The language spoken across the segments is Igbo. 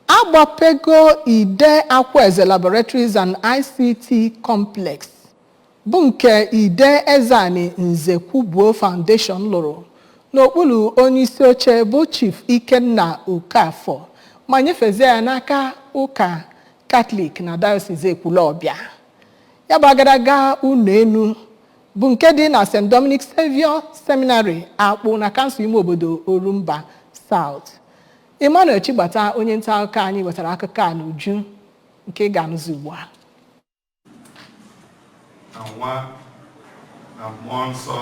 agbapego Ide Akwaeze Laboratories and ICT Complex bụ nke Ide Ezeani Nzekwubuo Foundation lụrụ n'okpuru onyeisi oche bụ Chief Ikenna Okafor ma nyefezie ya n'aka ụka Katọlik na Dayọsis Ekwulọbịa. Ya bụ agadaga ụlọ enu bụ nke dị na St. Dominic Savio Seminary Akpụ na kansụl ime obodo Orumba South. Emmanuel Chigbata onye nta akụkọ anyị wetara akụkọ a n'uju nke ị ga-anụzi ugbu a na nwa na mmụọ nsọ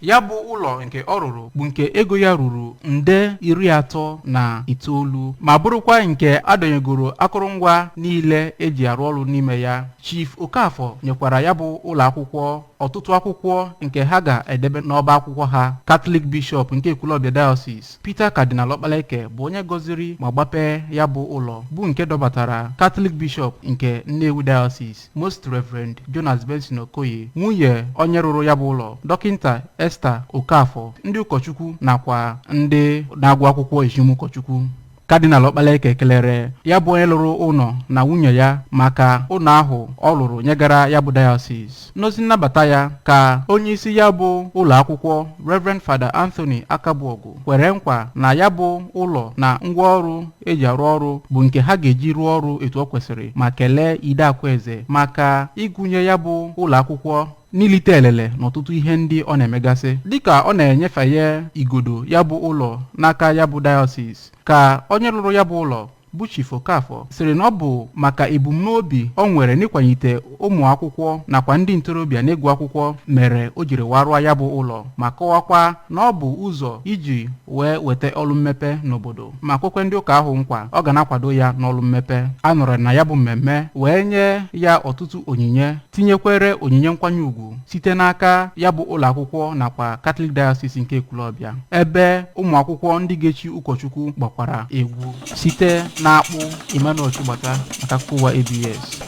ya bụ ụlọ nke ọ rụrụ bụ nke ego ya ruru nde iri atọ na itoolu ma bụrụkwa nke adọnyegoro akụrụngwa niile eji arụ ọrụ n'ime ya chief okafọ nyekwara ya bụ ụlọ akwụkwọ ọtụtụ akwụkwọ nke ha ga-edebe n'ọba akwụkwọ ha katọlik bishọp nke ekwulọbịa diocese peter cardinal ọkpaleke bụ onye gọziri ma gbapee ya bụ ụlọ bụ nke dọbatara katọlik bishọp nke nnewi diocese most reverend jonas benson okoye nwunye onye rụrụ ya bụ ụlọ dọkịnta esther okafọ ndị ụkọchukwu nakwa ndị na-agụ akwụkwọ echim ụkọchukwu kadinal ọkpaleke kelere ya bụ onye lụrụ ụlọ na nwunye ya maka ụlọ ahụ ọ lụrụ nyegara ya bụ diocese n'ozi nnabata ya ka onye isi ya bụ ụlọ akwụkwọ reverend fada anthony akabuogu kwere nkwa na ya bụ ụlọ na ngwa ọrụ eji arụ ọrụ bụ nke ha ga-eji rụọ ọrụ etu o kwesịrị ma kelee ide akwaeze maka ịgụnye ya bụ ụlọ akwụkwọ n'ilite elele n'ọtụtụ ihe ndị ọ na-emegasị dịka ọ na-enyefeye igodo ya bụ ụlọ n'aka ya bụ dayọsis ka onye rụrụ ya bụ ụlọ bụ Chief Okafọ sịrị na ọ bụ maka ebumnobi o nwere n'ịkwanyite ụmụ akwụkwọ nakwa ndị ntorobịa n'ịgụ akwụkwọ mere o jiri wee rụọ ya bụ ụlọ ma kọwakwa na ọ bụ ụzọ iji wee weta ọrụ mmepe n'obodo ma kwekwe ndị ụka ahụ nkwa ọ ga na-akwado ya n'ọrụ mmepe a nọrọ na ya bụ mmemme wee nye ya ọtụtụ onyinye tinyekwere onyinye nkwanye ugwu site n'aka ya bụ ụlọ akwụkwọ nakwa Catholic Diocese nke Ekwulọbịa ebe ụmụ akwụkwọ ndị ga-echi ụkọchukwu gbakwara egwu site na Akpụ Emmanuel Chigbata maka akụkọ ụwa ABS